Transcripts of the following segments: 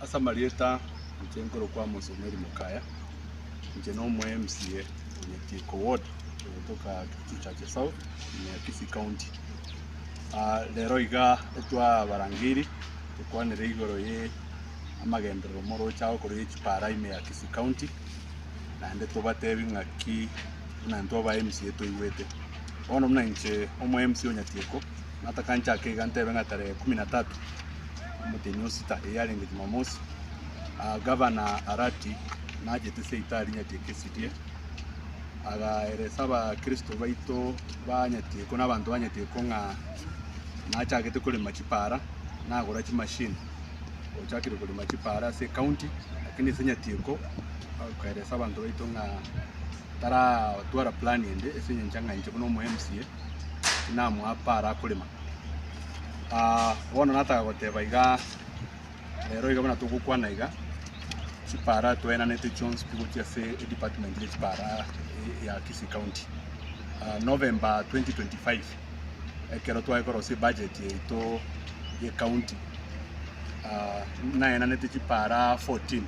Ase amarieta inche nkorokwa Amos Omeri Mokaya, inche na omo MCA o Nyatieko ward ogotoka Kericho Churches South ime Kisii County. Rero iga twabarangeiri tokwanire igoro ye amagenderero moroche ago korwa ye chipara ime ya Kisii County, naende tobatebi ng'aki buna intwe aba MCA toigwete. Bono buna inche omo MCA o Nyatieko. Natakanche ake iga ntebe ng'a tarehe kumi na tatu omoteni o sita, eye yarenge Jumamosi, aa Gavana Arati nachete Seita arinyatie Kesirie, agaeresa Abakristo baito banyatiekwa na abanto banyatiekwa ng'a nachagete korema chipaara, nagora chimashini ochakire korema chipaara ase ekaunti, lakini ase enyatieko akoeresa abanto baito ng'a taratwara plan ende ase engencho ng'a inche buna omo MCA, tinamoa apare akorema. Bono nataka goteba igaa, rero iga buna togokwana iga, chipara twaenanete chionsi pi gochia ase edepartment ye chipara ya Kisii County. November 2025 ekero tware korosia ebudget yaito ye county, naenanete chipara fourteen.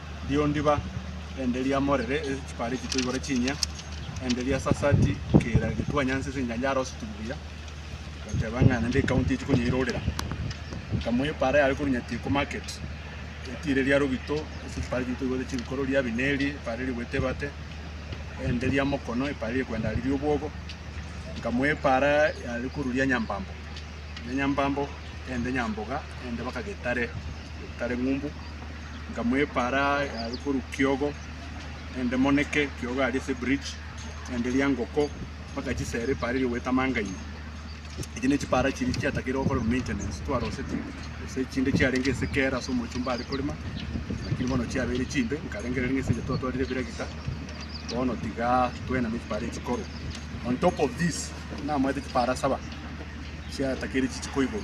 Riondiba, erinde riamorere chipara echi toigore chinyia, erinde riasasati kera getwa nyansi ase enyancha yaroseti buya, goteba ng'a naende ekaunti echi konyeirorera. Nkamua epara yare korwa Nyatiko market, etiire riarogito ase chipara echi toigwete chirikoro, ria Abineri, epara eri rigoeta ebate, erinde ria Mokono, epara eri rigoenda riria obwogo, nkamua epara yare korwa ria Nyambambo, ria Nyambambo, erinde Nyamboga, erinde mpaka Getare, Getare ng'umbu. nkamwepara aria korwa Kiogo, naende Moneke, Kiogo aria ase ebridge, naende Riangoko, mpaka chisera epara eria goeta Mangaia. Echi ne chipara chiria chiatakeirwe gokorerwa maintenance, twaroseti gose chinde chiarenge ase kera ase omochomba are korema, lakini bono chiabeire chimbe, nkarengereria ng'a ase engencho twatwarire ebiragita, bono tiga twename chipara echi korwa. On top of this, namaete chipara saba, chiatakeire chichiko igoro.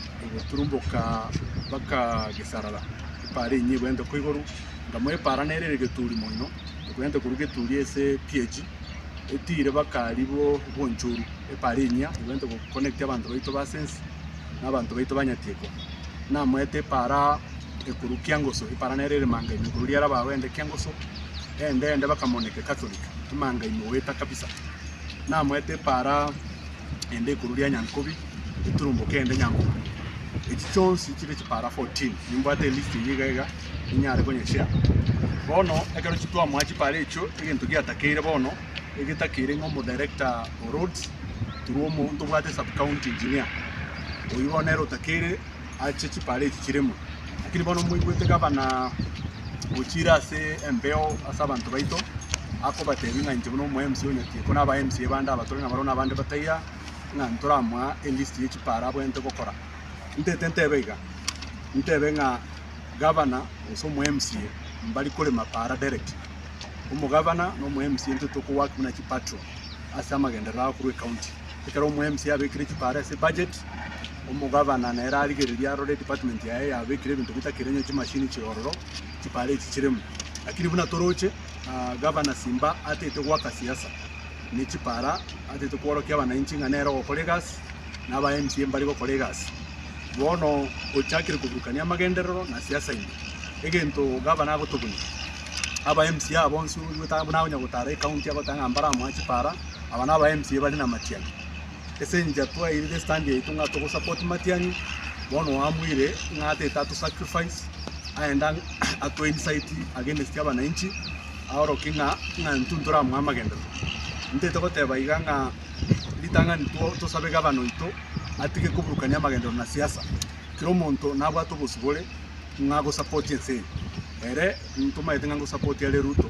egeturumboka mpaka gesarara, epaara enyia egwente ko igoro, ngamoa epaara nere ere geturi moino, egwente korwa geturi ase epiachi, etiire mpaka aria bo obonchoru, epaara enyia egwente go connect abanto baito ba ase ense na abanto baito ba nyatieko. Namoete epaara ekorwa kiangoso, epaara nere ere manga ime korwa riera bago ende kiangoso, ende ende mpaka monike catholic, emanga ime goeta kabisa. Namoete epaara. ende igoro ria Nyankobi, eturumboke ende Nyamura. Echi chionsi chibe chipara 14. Nimbwate elist eye iga iga ninyare konyeshare. Bono ekero chitwamoa chipara echio egento giatakeire bono egetakeire ng'a omo director o roads, toromo ntobwate sub county engineer. Oyio bono nere otakeire. ache chipara echi chirimo, lakini bono moigwete gabana gochia ira ase embeo ase abanto baito, akobatebia ng'a inche buna omo mca o Nyatiko na aba mca bande aba tore nabarobwo na abande bataiga, ng'a ntoramoa elist ye chipara abwenerete gokora. Ntaete ntebe iga, ntebe ng'a gabana gose omo mca mbari korema para direct. Omogabana na omo mca intwe toko work buna chipatrol ase amagenderero ago korwa ecounty. Ekero omo mca abekire chipara ase ebudget. Omogabana nere arigererie arore edepartment yaye yabekire ebinto bitakire onye chimashini chiororo, chipara echi chiremo. Lakini buna toroche, Gavana Simba ataete goaka siasa ne chipara, ataete kworokia abanainchi ng'a nere ogokora egasi na aba MP mbare gokora egasi. Bono ochakire koburukania amagenderero na siasa ime. Egento Gavana agotoboyia, aba MC aba bonsi oigwete buna akonya gotara ecounty agoteba ng'a mbaramoa chipara, aba naba MC bare namatiani. ase engiya twairire estand yaito ng'a togo support Matiang'i, bono oamuire ng'a ataete ato sacrifice, aende ang' atwe incite against abananchi, aorokie ng'a ng'a intwe ntoramoe amagenderero. Ntaete goteba iga ng'a ritang'ani to tosabe gavana oito, atige koburukania amagenderero na siasa, kera omonto nabwate obosibore ng'a go support ense eye. Ere ntomanyete ng'a ngo support are Ruto.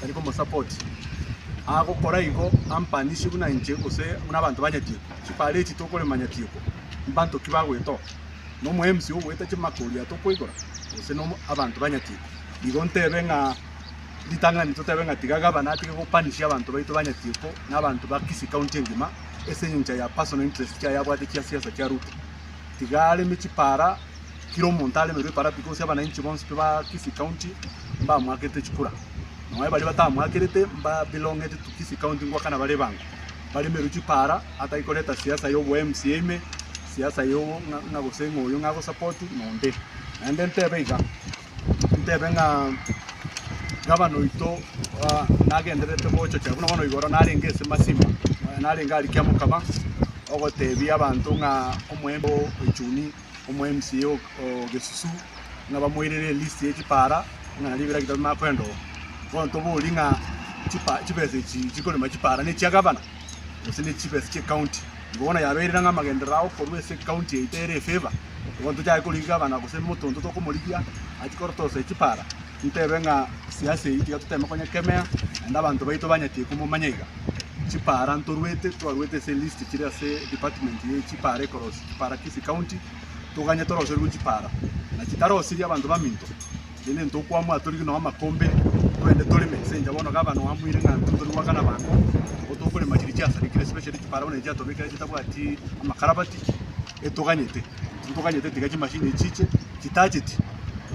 tari komosupport, agokora igo ampanisie buna inche gose buna abanto ba Nyatieko, chipareti tokorema Nyatieko, mbanto ki bagwetoa? Nomo MC ogoeta chimakori aa tokoigora? Gose nomo abanto ba Nyatieko? Igo ntebe ng'a ritang'ani totebe ng'a tiga gavana atige gopanisia abanto baito ba Nyatieko na abanto ba Kisii county engima ase engencho ya personal interest chiaye abwate chia siasa chia Ruto. Tiga areme chipara. kera omonto aremerwe eparabi, gose abanainchi bonsi pi ba Kisii County mbamoakete chikura. Nonya baria batamoakerete mba belonged to Kisii County ngoakana bare ebango, baremerwe chipara atari koreta siasa ya obo mca ime, siasa ya obo ng'a ng'a gose ng'a oyo ng'ago support naende. Naende ntebe iga, ntebe ng'a gavana oito ah nagendererete gochochera buna bono igoro narenge ase Masimba, narenge aria Kiamokaba, ogotebia abanto ng'a omoembe o Echuni. omw'MCA o Gesusu ng'a bamoirere elist ye chipara ng'a nario ebiragita bimanye koenda oo. Bono tobori ng'a chibesa echi chikorema chipara nechia gavana gose ne chibesa chie county. Igo bono yabeire ng'a amagenderero abo korwa ase county eye tere e favor, igo bono tochake korigia gavana gose omonto onto tokomorigia achie korotosa echipara ntebe ng'a siasa eye tiga toteme konyekemea naende abanto baito banyete komomanya iga. Chipara ntorwete twarwete ase elist chire ase department ye chipara ekorosia. Chipara Kisi County, toganye toroserigwe chipara na chitarosirie abanto baminto, rende ntokwamwa atorigwe nao amakombe twende toreme ase enchera bono gavana ogo amoire ng'a intwe nitori goakana abanto nigo tokorema chiria chiasarikire especially chipara bono echi chiatobekire chitabwati amakarabati etoganyete ntitoganyete tiga chimachine echi chiche chitacheti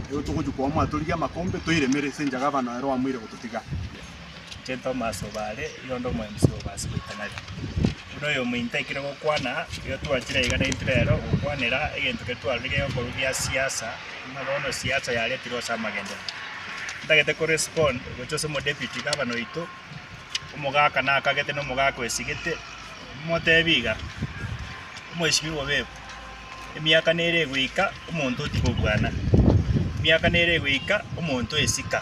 nigo togochia kwamwa atorigwe amakombe toiremere ase enchera gavana ero amoire gototiga. Gento Tomas obaare Yondo omoemisi obo ase goitanari, buna oyominto aikire gokwana, igo twachire iga naintwe rero gokwanera egento keria twarorire geko korwa gia siasa, buna bono siasa yaretirwe ase amagenderero. Ntagete ko respond gocha ase omo deputy governor oito, omogaka nakagete na omogaka oesigete, motebi iga, Omweshimiwa Obebo, emiaka nere egoika omonto otiga obwana, emiaka nere egoika omonto oesika.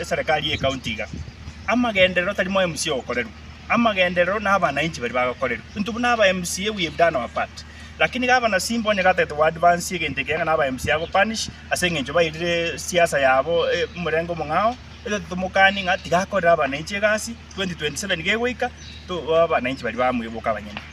eserekari y'ecounty iga, amagenderero tari mo mca ogokorerwa, amagenderero na abanainchi baria bagokorerwa into buna aba mca we have done our part, lakini gavana simba onye gatagete go advance egento ekeiga ng'a aba mca ago punish ase eng'encho bairire siasa yabo omorengo omong'ao, etagete tomokanie ng'a tiga akorere abanainchi egasi, 2027 gegoika, to abananchi baria bamweboka abanyene.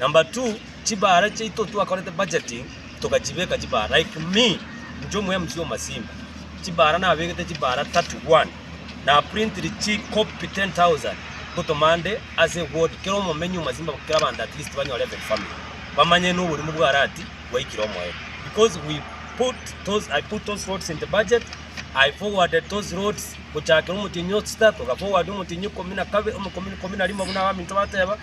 Number two, chibara chiaito twakorete budgeting togachibeka chibara like me inche omo MC omasimba chibara nabegete chibara 31 na printire chi copy 10000 ngotoma nde ase ward kera omomenyi omasimba kera abanto at least banyore every family bamanye na oborimo bwa rati bwaikire omoyo because we put those I put those roads in the budget I forwarded those roads gochakera omotienyi osta toga forward omotienyi ikomi na kabere omokomi ikomi na rimo buna abaminto bateba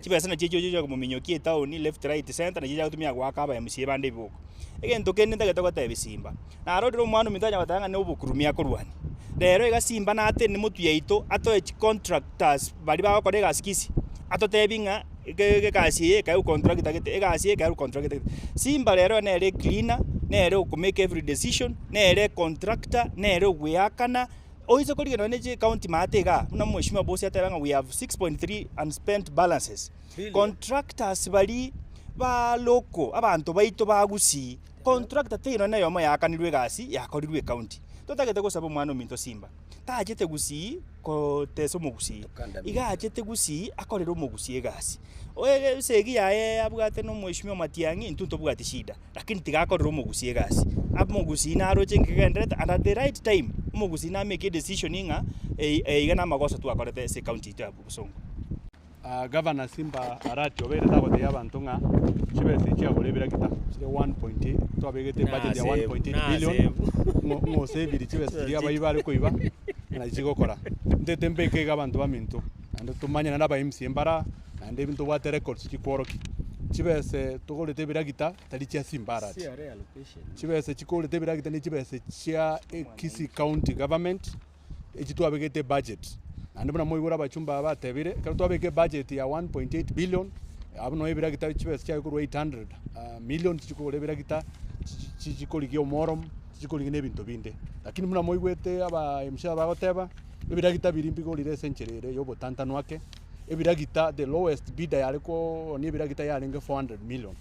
Chibesa nachio echiyo chigochaka komominyokia etaoni, left right centre, nachiaga gotumia goaka aba mca bande ebiboko. Egento kende ntagete gotebia simba, naro orire omwana ominto tanyara goteba ng'a nobokurumi akorwania. Rero iga simba natene motwe yaito atoe chicontractors baria bagokora egasi kisi, atotebie ng'a ge- gegasi eye ekae gocontracta gete, egasi eye ekae gocontracta gete. Simba rero nere ecleaner, nere okomake every decision, nere econtractor, nere ogoeakana, Oise korigereria nonya ne county maate igaa, buna mweshimiwa Bosi ateba ng'a we have 6.3 unspent balances. Contractors baria ba local abanto baito ba Gusii, contractor teri nonya neyomo yaakanirwe egasi yakorirwe ecounty. Totagete gosaba omwana ominto simba, tachete Gusii kotesa omogusii, iga achete Gusii akorere omogusii egasi. Oye esegi yaye abwate na omweshimiwa Matiang'i intwe ntobwati shida. lakini tigakorera omogusii egasi. Omogusii naroche engaki egenderete and at the right time, omogusii nameke edecision ng'a eye eye iga namagoso twakorete ase ecounty yaito ya Bosongo. Gavana Simba Arati obeire tagoteebia abanto ng'a chibesa echi chiagora ebirakita chire one point eight, twabegete ebudget ya one point eight billion ng'o ng'osavirie chibesa chiria abayi bare koiba ng'a nachigokora. Ntete mbeke iga abanto baminto naende tomanyane na aba mca mbare aa. naende ebi ntobwate records chikworokia, chibese togorete ebiragita tari chia simbarati, chibese chikogorete ebiragita ne chibese chia Kisii County Government echi twabegete ebudget, naende buna mwaigure abachumba aba batebire, ekero twabeka ebudget ya one point eight billion, abwo nabo ebiragita chibesa chiaye korwa eight hundred million chichi kogora ebiragita chichi chichi korigia omooro, chichi korigia na ebinto binde. Lakini buna mwaigwete aba mca bagoteba, ebiragita biria mbigorire ase enchera ere ya obotantanu ake. ebiragita the lowest bidder yare koonia ebiragita yarenge 400 million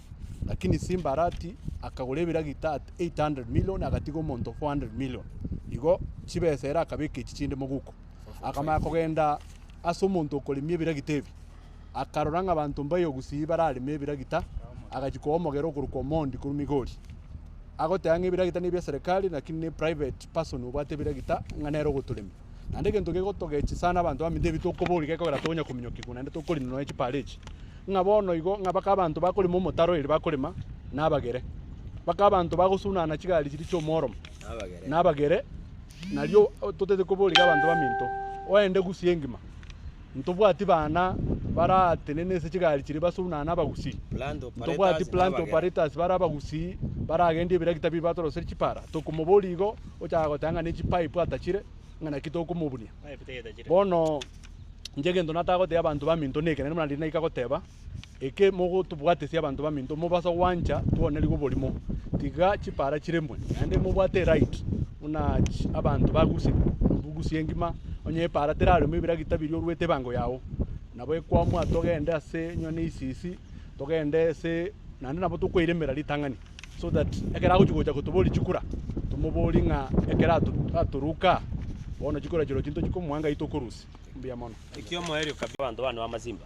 lakini Simba arati akagora ebiragita at 800 million agatiga omonto 400 million igo chibesa ere akabeka echi chinde moguko akamanya kogenda ase omonto okoremia ebiragita ebi akarora ng'a abanto mbayo gusii barareme ebiragita agachia koa omogera okorokwa Omondi korwa Migori agoteba ng'a ebiragita nebi eserikari lakini ne private person obwate ebiragita ng'a nere ogotoremia Naende egento gegotogechi sana abanto baminto ebi tokoboria gekogera tonya kominyokigwa naende tokorina nonya chipara echi, ng'a bono igo ng'a baka abanto bakorema omotaro eri bakorema nabagere, baka abanto bagosunana chigari chiri chi'omworomo nabagere, nario totaete koboria abanto baminto oende gusii engima. Ntobwati bana baratenena ase chigari chiria basunane abagusii. Ntobwati planter operators bare abagusii baragendia ebirakita biria batoroserie chipara. Tokomoboria igo ochaka goteba ng'a ne chipipe atachire ng'a naki tokomobunia. Bono inche egento nataka gotebia abanto baminto nekeene buna riria naika goteba. eke mogotobwatesia abanto baminto mobaso gwancha twonerigwe oborimo. Tiga chipara chiremwe naende mobwate eright buna abanto baguse bugusie engima onye epara teraremwe ebiragita biria oruete ebango yao nabo ekwamwa togende ase onye ne isisi togende ase naende nabo tokoiremera ritang'ani so that ekero agochi gocha kotoboria chikura tomoborie ng'a ekero atoruka bono chikura chirochio ntochikomoa ngai tokorusia. Mbuya mono. Ekiamoerio kabisa abanto bane b'amasimba.